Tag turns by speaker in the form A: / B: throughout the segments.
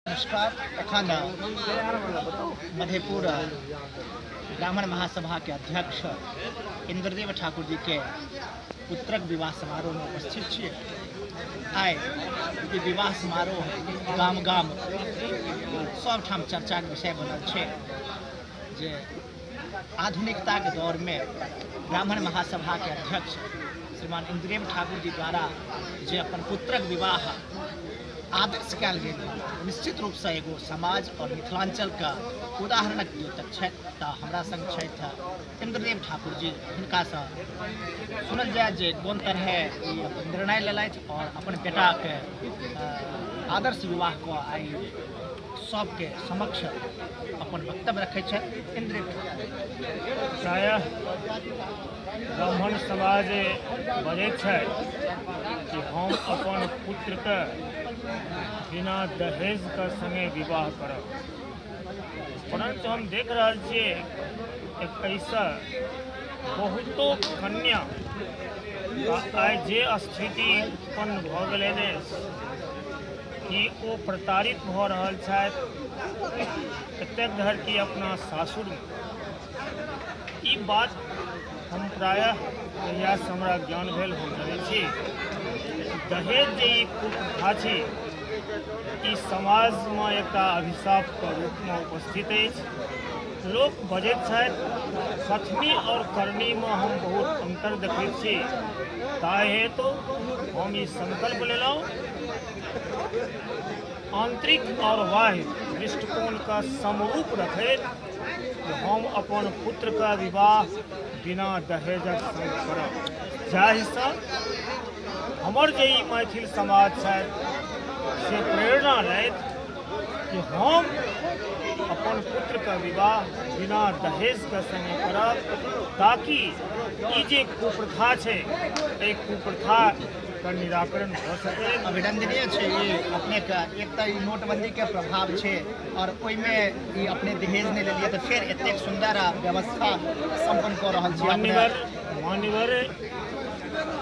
A: नमस्कार एखन मधेपुर ब्राह्मण महासभा के अध्यक्ष इंद्रदेव ठाकुर जी के पुत्रक विवाह समारोह में उपस्थित छियै आइ ई विवाह समारोह गाम गाम सभठाम चर्चाक विषय बनल छै जे आधुनिकताके दौरमे ब्राह्मण महासभाके अध्यक्ष श्रीमान इन्द्रेम ठाकुर जी द्वारा जे अपन पुत्रक विवाह आदर्श कयल गेल निश्चित रूपसँ एगो समाज आओर मिथिलाञ्चलके उदाहरणक द्योतक छथि तऽ हमरा सङ्ग छथि इन्द्रदेव ठाकुर जी हुनकासँ सुनल जाय जे कोन तरहे ई अपन निर्णय लेलथि आओर अपन बेटाके अ, आदर्श विवाहके आइ सबके समक्ष अपन वक्तव्य रखै छथि इन्द्रिय प्रायः ब्राह्मण समाज बजै छै कि हम अपन पुत्रके बिना दहेजके सङ्गे विवाह करब परन्तु हम देख रहल छियै एकैसँ बहुतो कन्या आइ जे स्थिति उत्पन्न भऽ गेलै कि ओ प्रताड़ित भऽ रहल छथि एतेक धरि कि अपना सासुरमे ई बात हम प्रायः कहियासँ हमरा ज्ञान भेल हम जानै छी दहेज जे ई कुप्रथा छै ई समाजमे एकटा अभिशापके रूपमे उपस्थित अछि लोक बजैत छथि सतमी आओर करनीमे हम बहुत अन्तर देखैत छी ताहि हेतु हम ई सङ्कल्प लेलहुँ आंतरिक और बाह्य दृष्टिकोण का समरूप रखे हम अपन पुत्र का विवाह बिना दहेजक करब जाहिसँ हमर जे ई मैथिल समाज छथि से प्रेरणा लैत कि हम अपन पुत्र का विवाह बिना दहेज के संगे करब ताकि ई जे कुप्रथा छै एहि कुप्रथा एकर निराकरण भऽ सकै अभिनंदनीय छै ई अपनेके एक तऽ ई नोटबंदीके प्रभाव छै आओर ओहिमे ई अपने दहेज नहि लेलियै तऽ फेर एतेक सुन्दर आ व्यवस्था सम्पन्न कऽ रहल छी अपने मान्यवर मान्यवर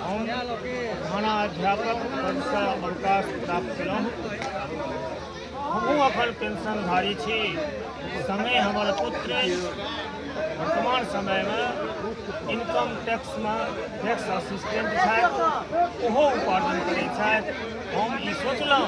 A: हम थाना अध्यापक पदसँ अवकाश प्राप्त केलहुँ हमहूँ अखन पेंशनधारी छी समय हमर पुत्र वर्तमान समयमे इनकम टैक्समे टैक्स असिस्टेंट छथि ओहो उपार्जन करै छथि हम ई सोचलहुँ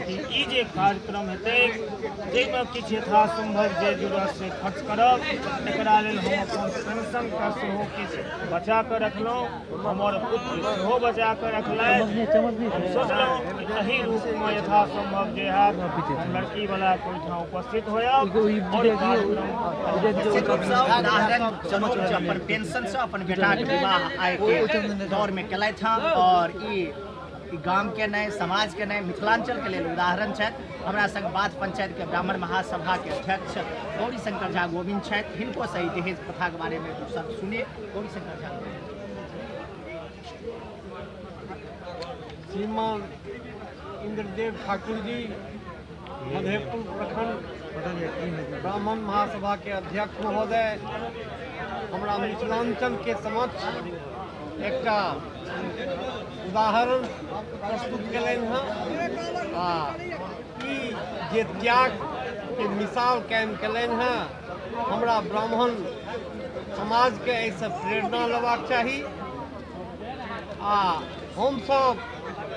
A: कि ई जे कार्यक्रम हेतै जाहिमे किछु यथासम्भव जे जुड़त से खर्च करब एकरा लेल हम अपन पेंशनके सेहो किछु बचा कऽ रखलहुँ हमर पुत्र सेहो बचा कऽ रखलथि हम सोचलहुँ एहि रूपमे यथा सम्भव जे हैत हम लड़कीवला ओहिठाम उपस्थित होयब आओर ई कार्यक्रम अपन पेंशनसँ अपन बेटाक विवाह आइके दौरमे केलथि हँ आओर ई ई गामके नहि समाजके नहि मिथिलाञ्चलके लेल उदाहरण छथि हमरा संग बात पंचायतके ब्राह्मण महासभाके अध्यक्ष गौरी शंकर झा गोविंद छथि हिनको सही दहेज प्रथाके बारेमे दू शब्द सुनी श्रीमान इंद्रदेव ठाकुर जी मधेपुर प्रखंड ब्राह्मण महासभा के अध्यक्ष महोदय हमरा मिथिलांचल के समक्ष एक उदाहरण प्रस्तुत कलन हाँ जे त्याग के मिसाल कायम कलन हाँ हमरा ब्राह्मण समाजके एहिसँ प्रेरणा लेबाक चाही आ हमसभ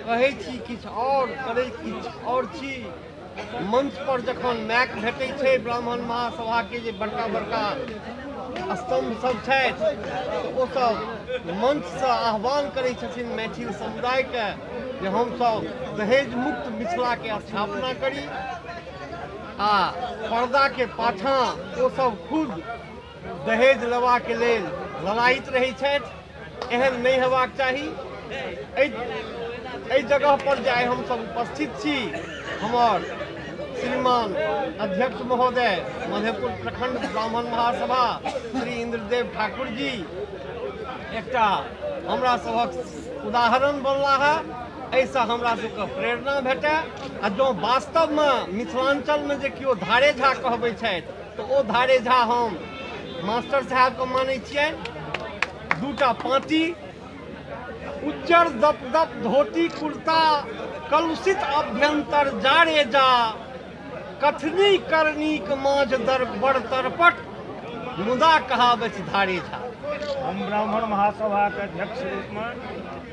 A: कहै छी किछु आओर करै किछु आओर छी मंच पर जखन मैक भेटै छै ब्राह्मण महासभाके जे बड़का बड़का स्तंभ सब छथि ओ सब मंच से आह्वान करै छथिन मैथिल समुदायके जे हमसभ दहेज मुक्त मिथिलाके स्थापना करी आ पर्दा के पाछा ओ सब खुद दहेज लेवा के लेल लड़ाइत रहे छथि एहन नहीं हेबाक चाही एहि जगह पर जे हम सब उपस्थित छी हमर श्रीमान अध्यक्ष महोदय मधेपुर प्रखंड ब्राह्मण महासभा श्री इंद्रदेव ठाकुर जी एक हमरा सबक उदाहरण बनला है एहिसँ हमरा सबके प्रेरणा भेटै आ जँ वास्तवमे मिथिलाञ्चलमे जे केओ धारे झा कहबै छथि तऽ ओ धारे झा हम मास्टर साहेबके मानै छियनि दूटा पाँटी उज्जर दप दप धोती कुर्ता कलुषित अभ्यंतर जारे जा कथनी करनीक माँझ दर बड़ तरपट मुदा कहाबै छी धारे झा हम ब्राह्मण महासभाके अध्यक्ष रूपमे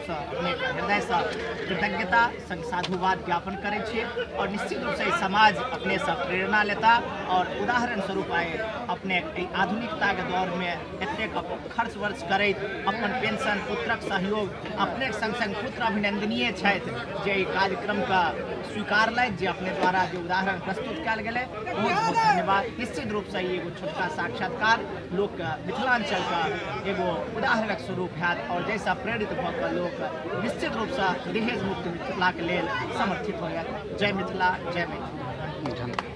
A: हृदयसँ कृतज्ञता संग साधुवाद ज्ञापन करै छियै आओर निश्चित रूपसँ ई समाज अपनेसँ प्रेरणा लेता आओर उदाहरण स्वरूप आए अपने एहि आधुनिकताके दौरमे एतेक खर्च वर्च करैत अपन पेंशन पुत्रक सहयोग अपने संग संग पुत्र अभिनंदनीय छथि जे एहि कार्यक्रमके स्वीकारलथि जे अपने द्वारा जे उदाहरण प्रस्तुत कयल गेलै बहुत बहुत धन्यवाद निश्चित रूपसँ ई एगो छोटका साक्षात्कार लोकके मिथिलाञ्चलके एगो उदाहरणक स्वरूप हैत आओर जाहिसँ प्रेरित भऽ कऽ लोक निश्चित रूपसँ दहेज मुक्त मिथिलाके लेल समर्थित होयत जय मिथिला जय मैथिली